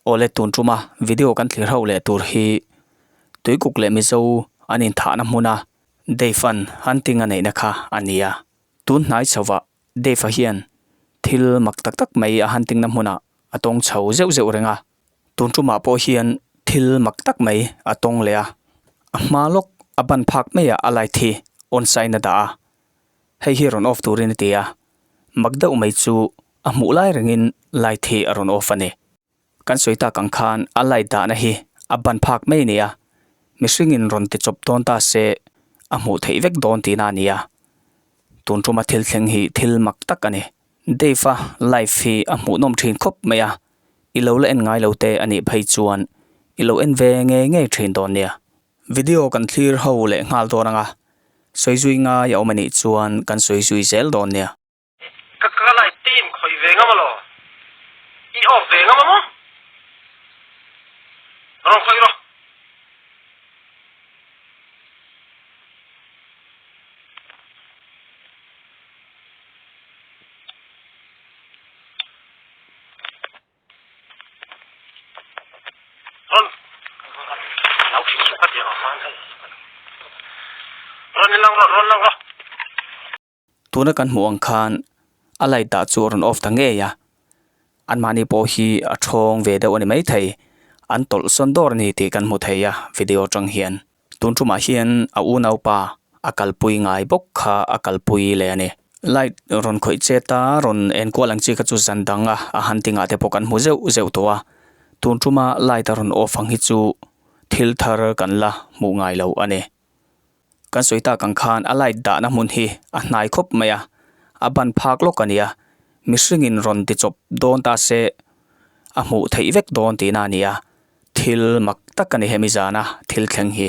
Aw le tun tuma video kan thlir ho leh tur hi Tuikuk leh Mizo an inthahna hmuna Dave an hunting a neihna kha a ni a. Tun hnai chhovah Dave-a hian thil mak tak tak mai a hunting-na hmuna a tawng chho zeuh zeuh reng a. Tun tumah pawh hian thil mak tak mai a tawng leh a, a hma lawk a ban phak maiah a light hi on sahin a dah a, hei hi rawn off turin a ti a, mak deuh mai chu a hmuh lai rengin light hi a rawn off a ni. Kan sawi tak ang khan a light dahna hi a ban phak mai nia, mihringin rawn ti chawp dawn ta se a hmuh theih vek dawn tihna a ni a, tun tuma thil thleng hi thil mak tak a ni. Dave-a life hi a hmuhnawm thin khawp mai a, i lo la en ngai lo te a nih phei chuan i lo en ve ngei ngei thin dawn nia. Video kan thlir ho leh nghal dawn anga sawi zui ngai a awm a nih chuan kan sawi zui zel dawn nia. Ka ka life team khawih ve ngam alaw i off ve ngam a maw? Rawn khawih rawh. Tuna kan hmuh ang khan a light dah chu a rawn off ta ngei a an mahni pawh hi a thawng ve deuh a ni maithei an tawlh sawn dawr a ni tih kan hmu thei a video atang hian. Tun ṭumah hian a unau pa a kalpui ngai bawk kha a kalpui leh a ni. Light rawn khawih chet a, rawn en kual ang chi kha chu zan dang a, a han ti ngah te pawh kan hmu zeuh zeuh tawh a. Tun ṭuma light a rawn off ang hi chu thil thar kan la hmuh ngai lo a ni. Kan sawi tak ang khan a light dahna hmun hi a hnai khawp mai a, a ban phak lawk a ni a, mihringin rawn ti chawp dawn ta se a hmuh theih vek dawn tihna a ni a. Thil mak tak a ni hemi zana thil thleng hi.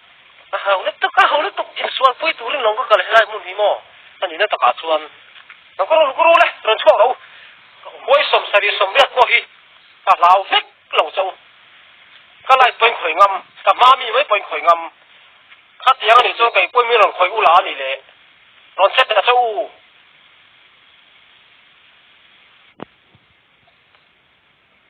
Ka hau lutuk, ka hau lutuk, insual pui turin lo ka kal helai hmun hi maw? Ka nihna takah chuan, Lo ka run kuru le, rawn chhuak lo, ka huai sawm sarih sawm riat pawh hi ka hlau vek lo chauh. Ka light pawi khawih ngam, ka hma mi mai pawi khawih ngam, khatiang anih chuan ka inpuimin rawn khawih u la a ni le, rawn che ta chauh u.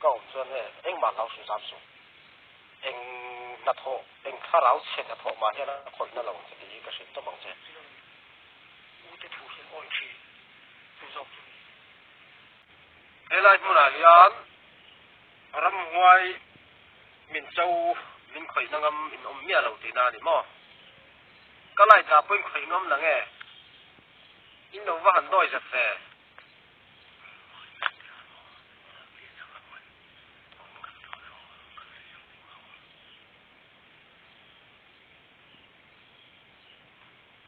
Ka awm chuan he engmah lau hru zam sung eng hnathawh eng thlarau chhe ta thawh mah hian a khawihna lo cheti hi ka hrilh tawp ang che. Ute thu hi a awih thin chu zawk chu ni. Helai hmunah hian ram huai min cho min khawihna ngam in awm miah lo tihna a ni maw? Ka lait lah pawhin khawih nuam la nge? In lo va han dawi zet ve.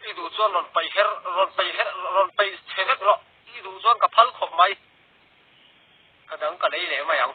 I duh chuan rawn paih her, rawn paih her, rawn paih che vek rawh. I duh chuan ka phal khawp mai. Ka dang ka lei leh mai ang.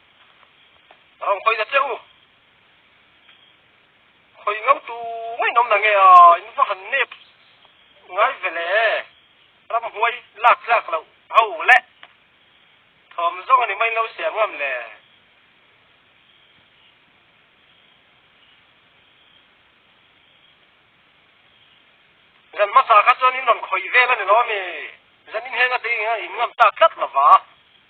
Ram khawina che u. Khawi ngau tu ngaiin awm la nge a, in va han nep ngai vele. Ram huai lak tlak loh ho le. Thawm zawng a ni mai lo siam ngam le. Zan hmasa kha chuan in rawn khawi vel a ni lo a mi. Zan inheng a tei ang hian in ngam tak tlat lova.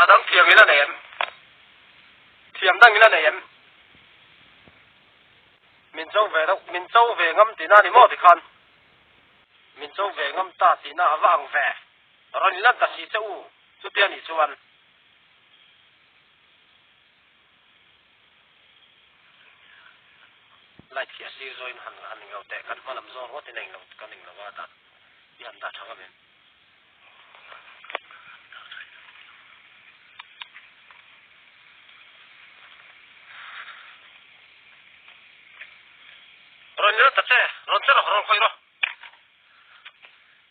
A dang thiam ila nei em? Thiam dang ila nei em? Min cho ve lo, min cho ve ngam tihna ni maw tikhan? Min cho ve ngam ta tihna a va ang ve. Rawn inlan ta si che u, chutia nih chuan. Light khi a sir zawin han han ning lo teh, kan hma lam zawng ruat in a ing lo ka ning lo a dah i han dah thang avem. Rawn ni rawh Tate, rawn che rawh, rawn khawi rawh.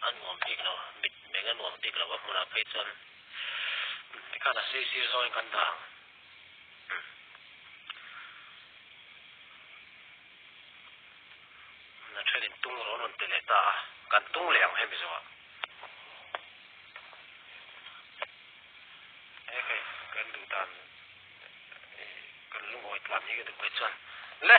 a nuam bik lo, mitmeng a nuam bik lo, a hmunah phei chuan Mikan a sei sir zawngin kan dah ang. Na thenin tung rawn rawn pe leh ta a, kan tung leh ang hemi zawha. He kei kan duh dan kan lungawitlan hi ka duh mai chuan, Le!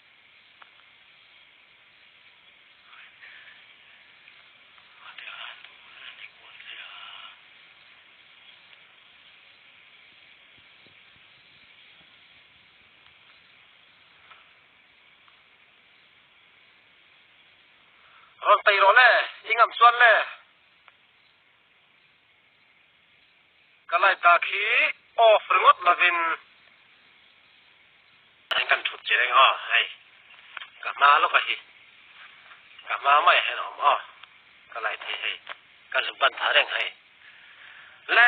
Rawn tei rawh le, i ngam chuan le. Ka light dak hi off ringawt lovin eng kan thut che reng a hei ka hma lawk a hi ka hma mai hian awm a ka light hi hei ka zuk ban thar reng hei le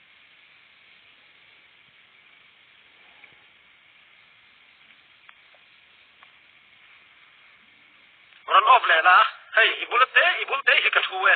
Run off leh la, hei i bula te i bul te hi ka thu e.